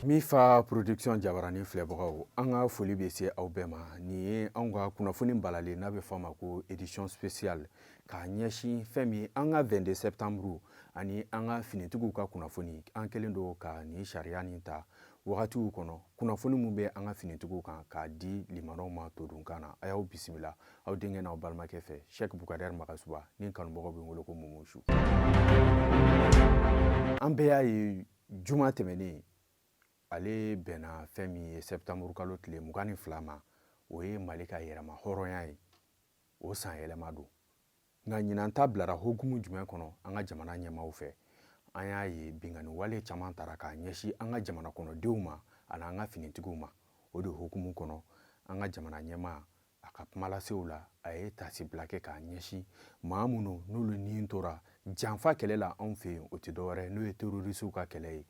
mifa production jabarani filɛbagaw an ka foli bɛ se aw bɛɛ ma nin ye anw ka kunnafoni balalen n'a bɛ fɔ a ma ko édition spéciale k'a ɲɛsin fɛn min an ka 22 septembre ani an ka finitigiw ka kunnafoni an kɛlen don ka nin sariya nin ta wagatiw kɔnɔ kunnafoni min bɛ an ka finitigiw kan k'a di limanaw ma todunkan na a y'aw bisimila aw denkɛ n'aw balimakɛ fɛ shɛk bukadɛri magasuba ni kanubagaw bɛ wele ko momosu an bɛɛ y'a ye juma tɛmɛnen ale bɛnna fɛn min ye sɛptanburu kalo tile mugan ni fila ma o ye mali ka yɛrɛmahɔrɔnya ye o san yɛlɛma don nka ɲinan ta bilara hokumu jumɛn kɔnɔ an ka jamana ɲɛmaaw fɛ an y'a ye binkanni wale caman tara k'a ɲɛsi an ka jamana kɔnɔdenw ma ani an ka finitigiw ma o de hokumu kɔnɔ an ka jamana ɲɛmaa a ka kumalasew la a ye tasibila kɛ k'a ɲɛsi maa minnu n'olu ni tora janfa kɛlɛ la anw fɛ yen o tɛ dɔwɛrɛ n'o ye terorisiw ka kɛlɛ ye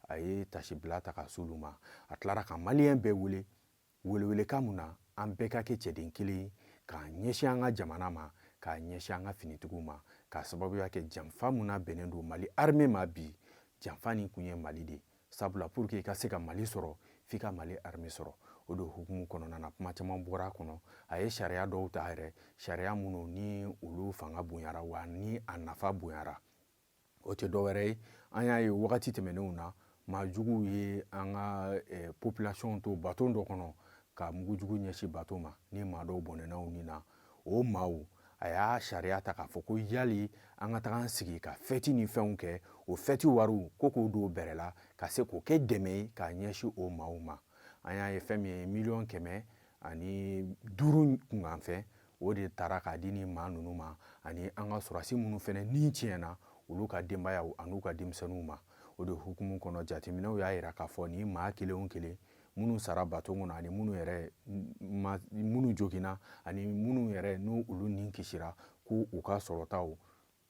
a ye tasibila ta ka s'olu ma a tilara ka maliyɛn bɛɛ wele Welewelekan min na an bɛɛ ka kɛ cɛden kelen k'a ɲɛsin an ka jamana ma, k'a ɲɛsin an ka finitigiw ma, k'a sababuya kɛ janfa min nabɛnnen don Mali armee ma bi, janfa nin kun ye Mali de, sabula pour que i ka se ka Mali sɔrɔ, f'i ka Mali armee sɔrɔ. O de hukumu kɔnɔna na kuma caman bɔra a kɔnɔ, a ye sariya dɔw ta yɛrɛ, sariya minnu ni olu fanga bonyara wa ni a nafa bonyara. o tɛ dɔwɛrɛ ye an y'a ye wagati tɛmɛnenw na maa juguw ye an ka eh, population to bato dɔ kɔnɔ ka mugujugu ɲɛsin bato ma ni maa dɔw bɔnɛna u ni na o maaw a y'a sariya ta k'a fɔ ko yali an ka taga an sigi ka fɛti ni fɛnw kɛ o fɛti wariw ko k'o don bɛrɛ la ka se k'o kɛ dɛmɛ ye k'a ɲɛsin o maaw ma an y'a ye fɛn min ye miliyɔn kɛmɛ ani duuru kunkanfɛn o de taara k'a di nin maa ninnu ma ani an ka sɔrɔdasi minnu fɛnɛ ni tiɲɛna olu ka denbayaw an'u ka denmisɛnninw ma o de hukumu kɔnɔ jateminɛw y'a jira k'a fɔ nin maa kelen o kelen minnu sara bato kɔnɔ ani minnu yɛrɛ minnu joginna ani minnu yɛrɛ ni olu ni kisira ko u ka sɔrɔtaw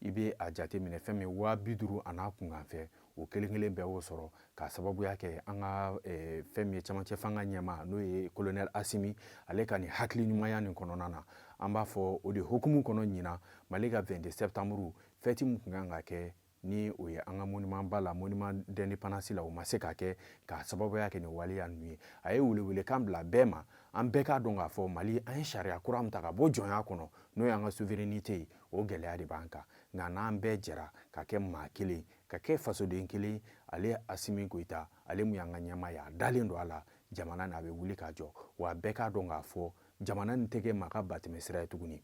i bɛ a jateminɛ fɛn min waa bi duuru an'a kunkanfɛn o kelen kelen bɛɛ y'o sɔrɔ k'a sababuya kɛ an ka eh, fɛn min ye camancɛ fanga ɲɛmaa n'o ye kolonɛl asimi ale ka nin hakili ɲumanya nin kɔnɔna na an b'a fɔ o de hokumu kɔnɔ ɲinan mali ka 22 sɛptanburu fɛti min kun kan ka kɛ ni o ye an ka monument ba la monument d'indépendance la o ma se ka kɛ k'a sababuya kɛ nin waleya ninnu ye a ye welewelekan bila bɛɛ ma an bɛɛ k'a dɔn k'a fɔ mali an ye sariya kura min ta ka bɔ jɔnya kɔnɔ n'o y'an ka souveraineté ye o gɛlɛya de b'an kan nka n'an bɛɛ jɛra ka kɛ maa kelen ka kɛ fasoden kelen ale asimi koyita ale mun y'an ka ɲɛmaa ye a dalen don a la jamana n'a bɛ wuli k'a jɔ wa a bɛɛ k'a dɔn k'a fɔ jamana nin tɛ kɛ maa ka batɛmɛ sira ye tuguni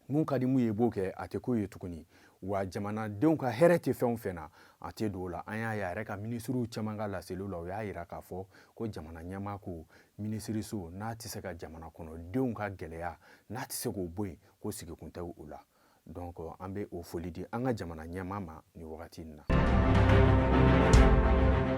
mun ka di mun ye b'o kɛ a tɛ k'o ye tuguni wa jamanadenw ka hɛrɛ tɛ fɛn o fɛn na a tɛ don o la an y'a ye a yɛrɛ ka minisiriw caman ka laseliw la o y'a yira k'a fɔ ko jamana ɲɛmaa ko minisiriso n'a tɛ se ka jamana kɔnɔdenw ka gɛlɛya n'a tɛ se k'o bɔ yen ko sigikun tɛ o la donc an bɛ o foli di an ka jamana ɲɛmaa ma nin wagati in na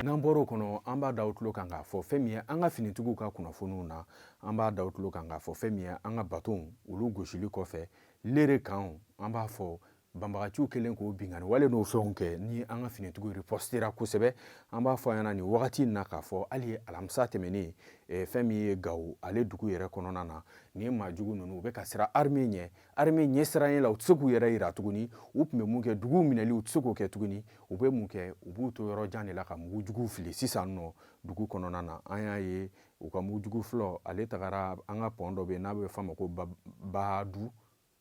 n'an bɔr'o kɔnɔ an b'a da aw tulo kan k'a fɔ fɛn min ye an ka finitigiw ka kunnafoniw na an b'a da aw tulo kan k'a fɔ fɛn min ye an ka batonw olu gosili kɔfɛ lere kanw an b'a fɔ banbagaciw kɛlen k'o binkanni wale n'o fɛnw kɛ ni an ka finitigiw ripɔsitera kosɛbɛ an b'a fɔ a ɲɛna nin wagati in na k'a fɔ hali alamisa tɛmɛnen eh, fɛn min ye gawo ale dugu yɛrɛ kɔnɔna na nin maa jugu ninnu u bɛ ka siran arme ɲɛ arme ɲɛ siranɲɛ la u tɛ se k'u yɛrɛ yira tuguni u tun bɛ mun kɛ duguw minɛli u tɛ se k'o kɛ tuguni u bɛ mun kɛ u b'u to yɔrɔ jan de la ka mugu juguw fili sisan nɔ dugu kɔnɔna na an y'a ye u ka mugu jugu fɔlɔ ale tagara an ka pɔn dɔ bɛ yen n'a bɛ f'a ma ko badu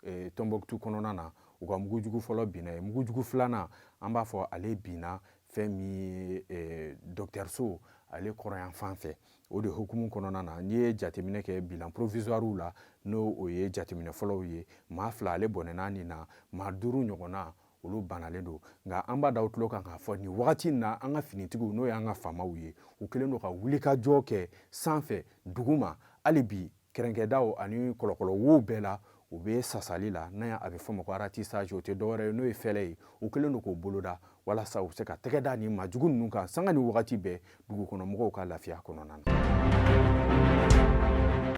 e, tɔnbɔkutu kɔnɔna na u ka mugujugu fɔlɔ binna yen mugujugu filanan an b'a fɔ ale binna fɛn min ye e, dɔkitɛriso ale kɔrɔyan fan fɛ o de hukumu kɔnɔna na n'i ye jateminɛ kɛ bilan provisoirew la n'o o ye jateminɛ fɔlɔw ye maa fila ale bɔnɛna nin na maa duuru ɲɔgɔnna olu banalen don nka an b'a da aw tulo kan k'a fɔ nin wagati na an ka finitigiw n'o y'an ka faamaw ye u kɛlen don ka wulikajɔ kɛ sanfɛ duguma hali bi kɛrɛnkɛdaw ani kɔlɔkɔlɔ wow bɛɛ la u bɛ sasali la n'a a bɛ fɔ ma ko ratissage o tɛ dɔwɛrɛ ye n'o ye fɛlɛ ye u kɛlen don k'o boloda walasa u bɛ se ka tɛgɛ da nin maa jugu ninnu kan sanga ni wagati bɛɛ dugukɔnɔmɔgɔw ka lafiya kɔnɔna na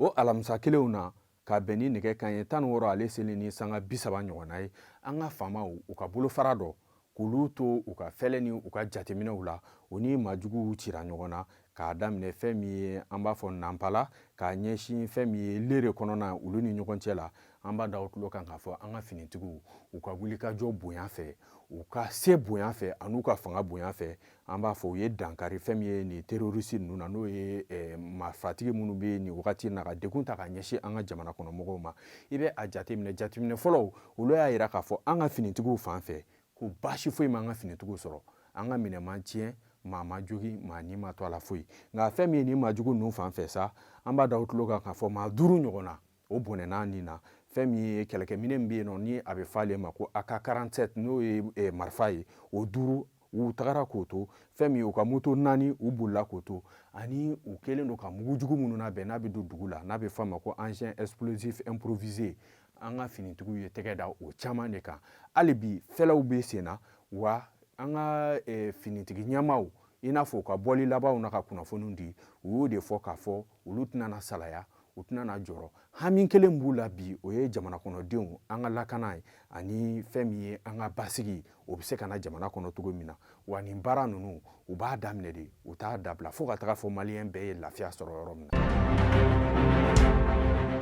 o alamisa kelenw na ka bɛn ni nɛgɛ kanɲɛ tan ni wɔɔrɔ ale seli ni sanga bi saba ɲɔgɔnna ye an ka faamaw u ka bolofara dɔ k'olu to u ka fɛlɛ ni u ka jateminɛw la u ni maajuguw cira ɲɔgɔn na k'a daminɛ fɛn min ye an b'a fɔ nanpala k'a ɲɛsin fɛn min ye lere kɔnɔna olu ni ɲɔgɔn cɛ la an b'a da aw tulo kan k'a fɔ an ka finitigiw u ka wulikajɔ bonya fɛ u ka se bonya fɛ an'u ka fanga bonya fɛ an b'a fɔ u ye dankari fɛn min ye nin terrorisi ninnu na n'o ye eh, marifatigi minnu bɛ nin wagati na ka degun ta ka ɲɛsin an ka jamana kɔnɔ mɔgɔw ma i bɛ a jateminɛ jateminɛ fɔlɔw olu y'a jira k'a fɔ an ka finitigiw fan fɛ ko baasi foyi ma an ka finitigiw sɔrɔ an ka minɛn ma tiɲɛ maa ma jogin maa ni ma to a la foyi nka fɛn min ye nin maa jugu ninnu fan fɛ sa an b'a da aw tulo kan k'a fɔ maa duuru ɲɔgɔnna o bɔnɛna nin na fɛn min ye kɛlɛkɛminɛ min bɛ yen nɔ ni a bɛ fɔ ale ma ko AK-47 n'o ye eh, marifa ye o duuru u tagara k'o to fɛn min u ka moto naani u bolila k'o to ani u kɛlen don ka mugu jugu minnu labɛn n'a bɛ don dugu la n'a bɛ fɔ a ma ko engin explosif improvisé an ka finitigiw ye tɛgɛ da o caman de kan hali bi fɛɛrɛw bɛ sen na wa an ka eh, finitigi ɲɛmaaw i n'a fɔ u ka bɔli labanw na ka kunnafoniw di u y'o de fɔ k'a fɔ olu tɛna na salaya u tɛna na jɔrɔ hami kelen b'u la bi o ye jamana kɔnɔdenw an ka lakana ye ani fɛn min ye an ka basigi o bɛ se ka na jamana kɔnɔ cogo min na wa nin baara ninnu u b'a daminɛ de u t'a dabila fo ka taga fɔ maliyɛn bɛɛ ye lafiya sɔrɔ yɔrɔ min na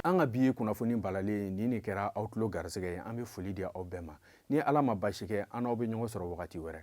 an ka bi kunnafoni balalen nin de kɛra aw tulo garisɛgɛ ye an bɛ foli di aw bɛɛ ma ni ala ma baasi kɛ an n'aw bɛ ɲɔgɔn sɔrɔ wagati wɛrɛ